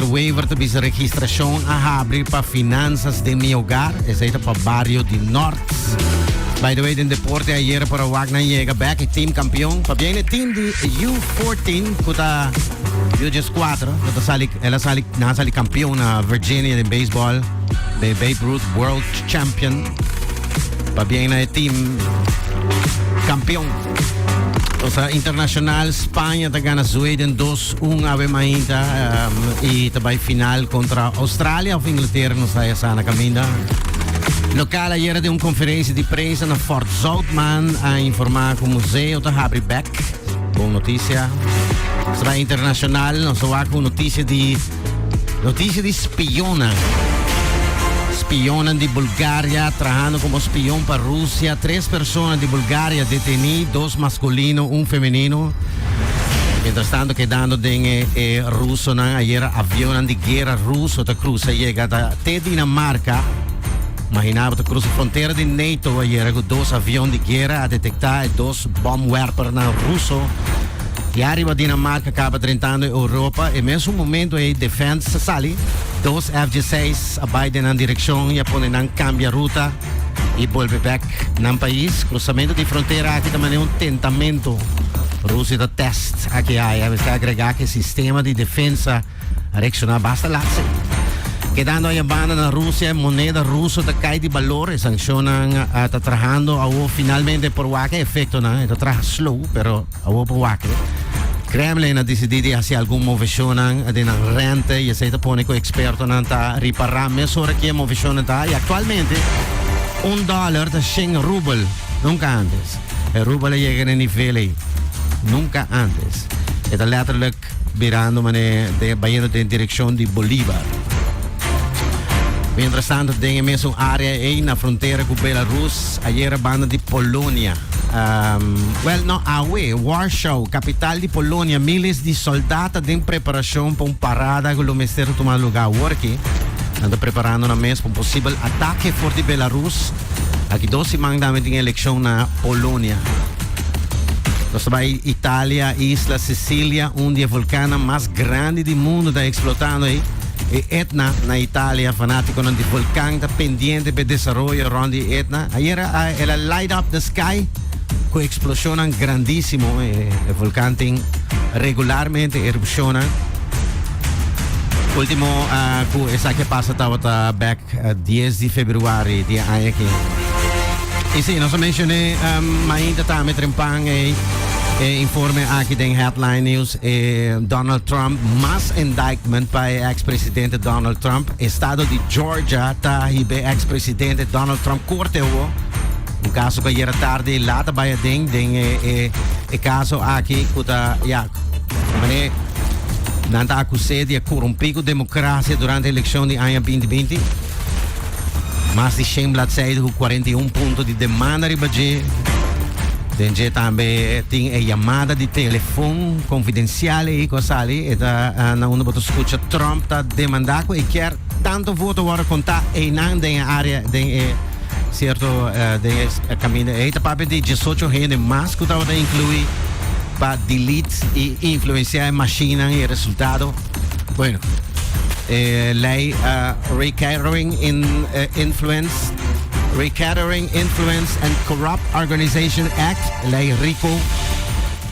E waiver ta bisa registrashon a habri pa Finanzas den mi Hogar, esei ta pa Barrio di Nort. By the way, den deporte ayer por a wak nan yega bek e team campeon. Pabia e team di U fourteen cu ta U dies cuatro, cu ta sali, el a sali, nan a sali campeon na Virginia den baseball, be Babe Ruth World Champion. Pabia na e team campeon. Cosa internacional, Spanje ta gana Zweden dos. Un awe mainta y ta bay final contra Australia of Inglaterra nos ta esana caminda. Local ayer de un conferencia de prensa na Fort Zoutman a informa cu museo ta habri back. Bon noticia. Sra internacional nos wa cu noticia de noticia de spiona. Spionan de Bulgaria trahando como spion pa Rusia. Tres personas de Bulgaria deteni, dos masculino, un femenino. Mientras tanto, kedando den e, e rusonan ayera, avionnan di guerra ruso ta cruza yega ta te Dinamarca. Imaginabo ta cruza frontera di NATO ayera cu dos avion di guerra a detecta e dos bomwerpernan ruso. Y arriba Dinamarca caba drentando Europa. E mesmo momento e defense sali. Dos FG6 a bay den nan direccion y a pone nan cambia ruta. y bolbe bek nan pais. Cruzamento di frontera aki ta mane un tentamento. Rusia ta test aki haya. Mester agrega que sistema di defensa reacciona basta laatse. Quedando a banda na Rusia, moneda ruso ta cai di valor. Sanccionan uh, ta trabajando awo finalmente por wake efecto na. Ta trabaja slow, pero Awor pa wak-e. Kremlin a disidí di hasi algun moveshonnan den nan rente i esei ta pone ku ekspertonan ta ripará mes ora ku e moveshonnan ta haña. Aktualmente un dòler ta shen rubel, nunka antes. E rubel a yega na e nivel ei, nunka antes. E ta lèterlik. Tek. Birando mané de bayendo den direkshon di Bolívar. Mientras tanto, den e mesun área ei na frontera ku Belarus, ayera banda di Polonia, um, well, no, awe, Warschau, kapital di Polonia, míles di sòldat ta den preparashon pa un parada ku lo mester ta tuma lugá aworki. Nan ta preparando nan mes pa un posibel atake for di Belarus. Aki dos siman tambe tin elekshon na Polonia. Nos ta bai Italia, isla Sicilia, un di e volkannan mas grandi di mundu ta eksplotando ei. E Etna na Italia, fanatikonan di volkan ta pendiente pe desaroyo rond di Etna. Ayer a el a light up the sky ku eksploshonnan grandisimo. E, e volkan tin regularmente erupshonnan. Ultimo ah, ku esaki pasa tabata back Dies di februari di e aña aki. I si, nos a mencion'é mainta tambe trempan ei e informe aki den Headline News. E Donald Trump, mas indictment pa e ex presidente Donald Trump. Estado di Georgia ta hib'e ex presidente Donald Trump korte awo. Un kaso ku ayera tardi e lata bai aden den e kaso aki ku ta, ya. Mane nan ta akus'é di a korumpí ku demokrasia durante e elekshon di aña binti binti. Mas di shen bladseide ku kuarenta i un punto di demanda riba dje. Den dje tambe tin e yamada di telefòn konfidensial ei ku a sali. E ta na unda bo ta skucha Trump ta demandá ku e kier tantu voto wòrdu kontá einan den e área den e. Cierto, eh, den es eh, camino eh, ta papia di 18 hende mas que tabata inclui pa delete y influenciar en machine y resultado. Bueno, eh, lei uh, recatering in, eh, influence, recatering influence and corrupt organization act, lei RICO.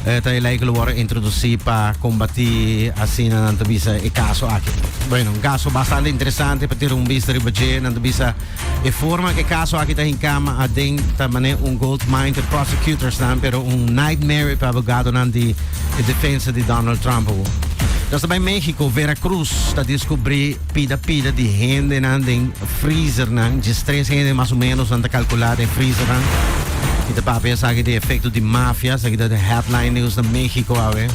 Eh, ta lei que lo worden introducir pa combatir así na nanto bisa e caso aquí. Bueno, un caso bastante interesante para tirar un vista riba je, nanto bisa E forma e caso aki ta hincama aden ta mane un gold mine te prosecutors-nan, pero un nightmare pa abogadonan di e defensa di Donald Trump awor. Nos ta bai Mexico, Veracruz ta descubri pida pida di hendenan den freezer-nan, djes tres hende mas o menos nan ta calcula den freezer-nan. Mi ta papia esaki di efecto di mafia, esaki ta den headline news na Mexico awe.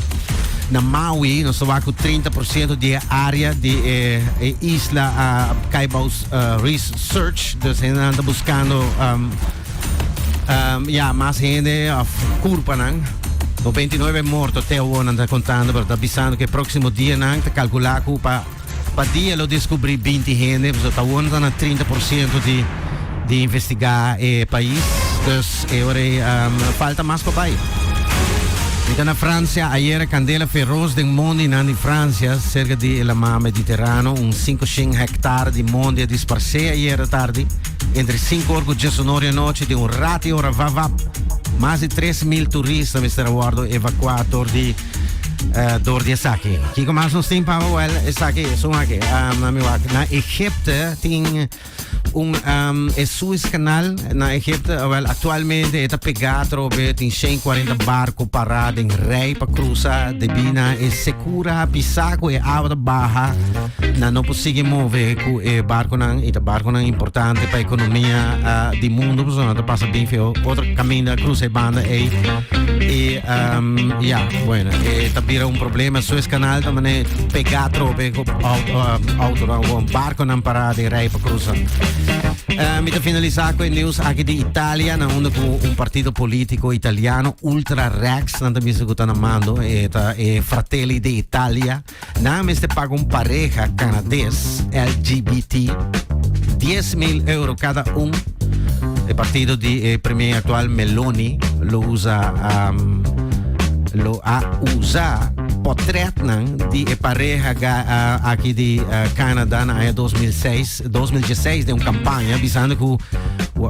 Na Maui nos ta wak cu trinta por ciento di e area di e isla a cai bou uh, research. Dus hen anda buscando um, um, ja, más gente of curpanan. O 29 morto te hoor anda contando, pero está avisando que próximo día nan te calcula que pa pa día lo descubrí 20 gente, pues está hoor na 30% de de investigar eh país. Dus E ora ei falta mas pa bai. Mi ta na Francia ayer, candela feroz den mondinan di Francia cerca di e lamar Mediterrano. Un cinco shen hectar di mondi a disparse ayer tardi entre cinco or cu dies un or di anochi den un rati ora vap vap. Mas di tres mil turist a mester a wordo evacua dor di dor di esaki. Kico mas nos tin paba? Well esaki esun aki na mi wak na Egypte tin. Un um, e Suez Canal na Egipto, wel actualmente está pegado trobe tin 140 barco pará den rij pa cruza de bina e secura pisa cu e agua baja na no posigue move cu e barco nan e barco nan importante pa economia uh, di mundo pues no te pasa bien feo otro camino cruza e banda e e um, ja bueno e tabira un problema Suez Canal tamane pegado trobe Autonan con barconan parada de rij para cruzar. Uh, mi te finaliza con el nieuws aquí de Italia, na uno con un partido político italiano, Ultra Rex, na también se gutana mando, eta eh, eh, Fratelli de Italia, na me se paga un pareja canadés LGBT 10 mil euro cada un. El partido de eh, premier actual Meloni lo usa, um, lo ha usado Potretnan di e pareha aki di Canada na aña 2006, 2016 den un campaña bisando cu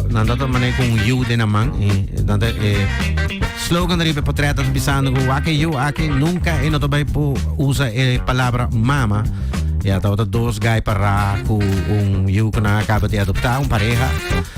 nan dat un mané cu un yu den a man y nan dat e slogan riba e potretnan bisando cu wak e yu aki nunca e no ta bay por usa e palabra mama. Ya tabata dos guy para cu un yu cu nan a caba di adopta, un pareha.